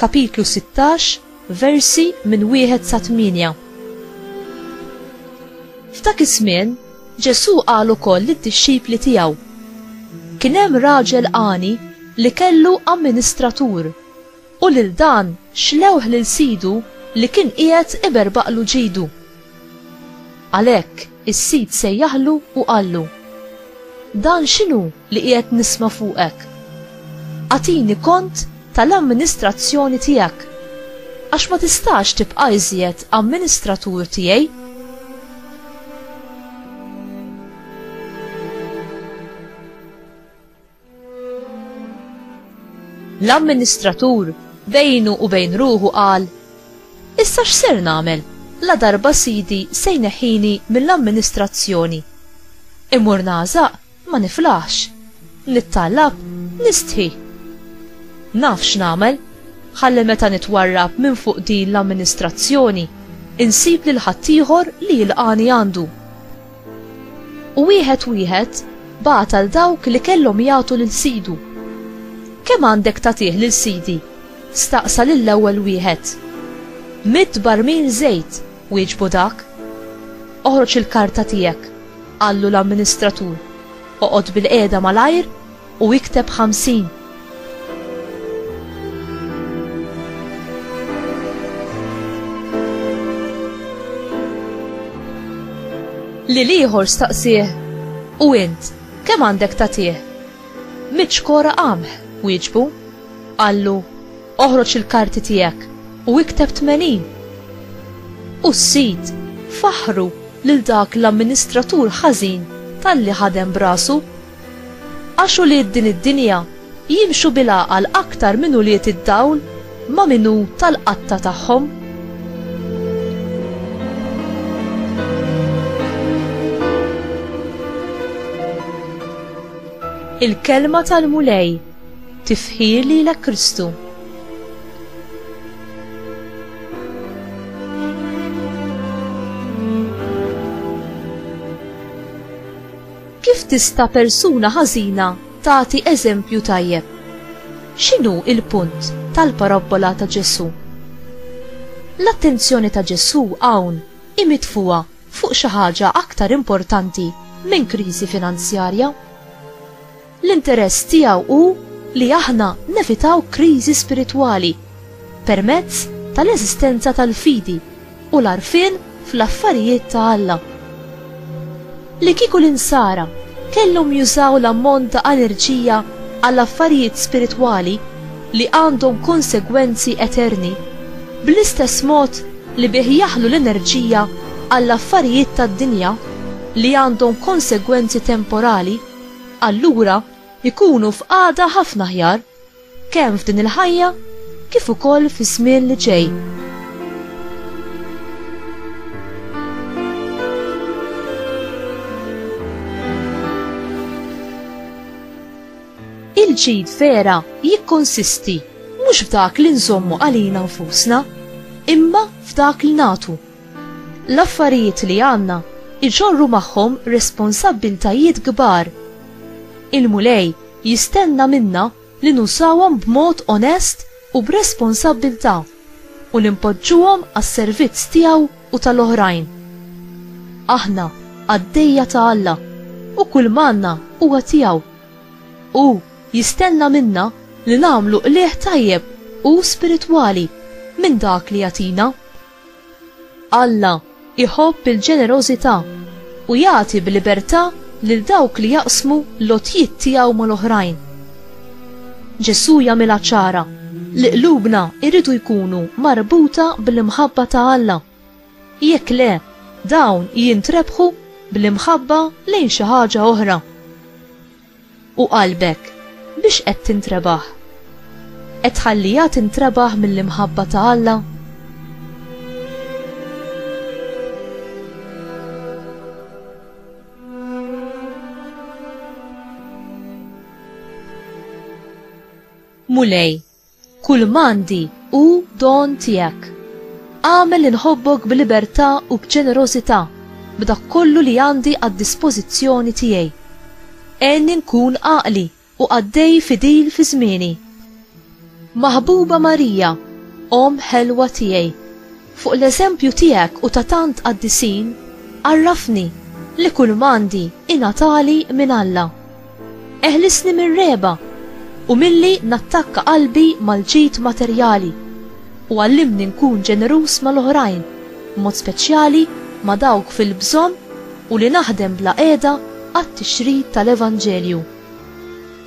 Kapitlu 16, versi minn wieħed sa tmienja. F'dak iż-żmien, Ġesù qal ukoll lid-dixxipli tiegħu, Kien hemm raġel għani li kellu amministratur, u lil dan xlewh lil sidu li kien qiegħed iberbaqlu ġidu. Għalhekk is-sid sejjaħlu u qallu, Dan x'inhu? li qiegħed nisma' fuqek. Agħtini kont tal-amministrazzjoni tiegħek, għax ma tistax tibqa' iżjed amministratur tiegħi. L-amministratur bejnu u bejn ruħu qal, Issa x'ser nagħmel? La darba sidi se jneħħini mill-amministrazzjoni. Imur nażaq Ma niflaħx. Nittallab, nistħi. Naf x'nagħmel, ħalli meta nitwarrab minn fuq din l-amministrazzjoni, insib lil ħaddieħor li jilqagħni għandu. U wieħed wieħed bagħat għal dawk li kellhom jagħtu lil sidu. Kemm għandek tagħtih lil sidi? staqsa lill-ewwel wieħed. Mitt barmil żejt, Wieġbu dak, Oħroġ il-karta tiegħek, qallu l-amministratur, oqgħod bilqiegħda malajr u ikteb ħamsin. Lil ieħor staqsieh, U int, kemm għandek tagħtih? Mitt xkora qamħ, wieġbu. Qallu, Oħroġ il-karti tiegħek u ikteb 80. U s-sid faħħru lil dak l-amministratur ħażin talli ħadem b'rasu. Għax ulied din id-dinja jimxu bil-għaqal aktar minn ulied id-dawl ma' min hu tal-qatta tagħhom. Il-kelma tal-Mulej Tifħir lilek Kristu. Kif tista' persuna ħażina tagħti eżempju tajjeb? X'inhu il-punt tal-parabbola ta' Ġesù? L-attenzjoni ta' Ġesù hawn hi mitfuha fuq xi ħaġa aktar importanti minn kriżi finanzjarja. L-interess tiegħu hu li aħna nevitaw kriżi spiritwali permezz tal-eżistenza tal-fidi u l-għarfien fl-affarijiet ta' Alla. Li kieku l-Insara kellhom jużaw l-ammont ta' enerġija għal affarijiet spiritwali li għandhom konsegwenzi eterni bl-istess mod li bih jaħlu l-enerġija għall-affarijiet tad-dinja li għandhom konsegwenzi temporali, allura jkunu f'qagħda ħafna aħjar kemm f'din il-ħajja kif ukoll fiż-żmien li ġej. il-ġid vera jikkonsisti mhux f'dak li nżommu għalina nfusna, imma f'dak li nagħtu. L-affarijiet li għandna jġorru magħhom responsabbiltajiet kbar. Il-Mulej jistenna minna li nużawhom b'mod onest u b'responsabbiltà u li npoġġuhom għas-servizz tiegħu u tal-oħrajn. Aħna qaddejja ta' Alla u kull m'għandna huwa tiegħu. Hu jistenna minna li nagħmlu qligħ tajjeb u spiritwali minn dak li jagħtina. Alla jħobb il-ġenerożità u jagħti b'libertà lil dawk li jaqsmu l-għotjiet tiegħu mal-oħrajn. Ġesù jagħmilha ċara li qlubna jridu jkunu marbuta bl-imħabba ta' Alla. Jekk le, dawn jintrebħu bl-imħabba lejn xi ħaġa oħra. U qalbek, biex qed tintrebaħ? Qed tħalliha tintrebaħ mill-imħabba ta' Alla? Mulej, Kull m'għandi hu don tiegħek. Agħmel li nħobbok b'libertà u b'ġenerożità b'dak kollu li għandi għad-dispożizzjoni tiegħi. Għenni nkun għaqli u qaddej fidil fi żmieni. Maħbuba Marija, Omm ħelwa tiegħi, Fuq l-eżempju tiegħek u ta' tant qaddisin, għarrafni li kull m'għandi ingħatali minn Alla. Eħlisni mir-regħba u milli nattakka qalbi mal-ġid materjali, u għallimni nkun ġeneruż mal-oħrajn, b'mod speċjali ma' dawk fil-bżonn u li naħdem bla qiegħda għat-tixrid tal-Evanġelju.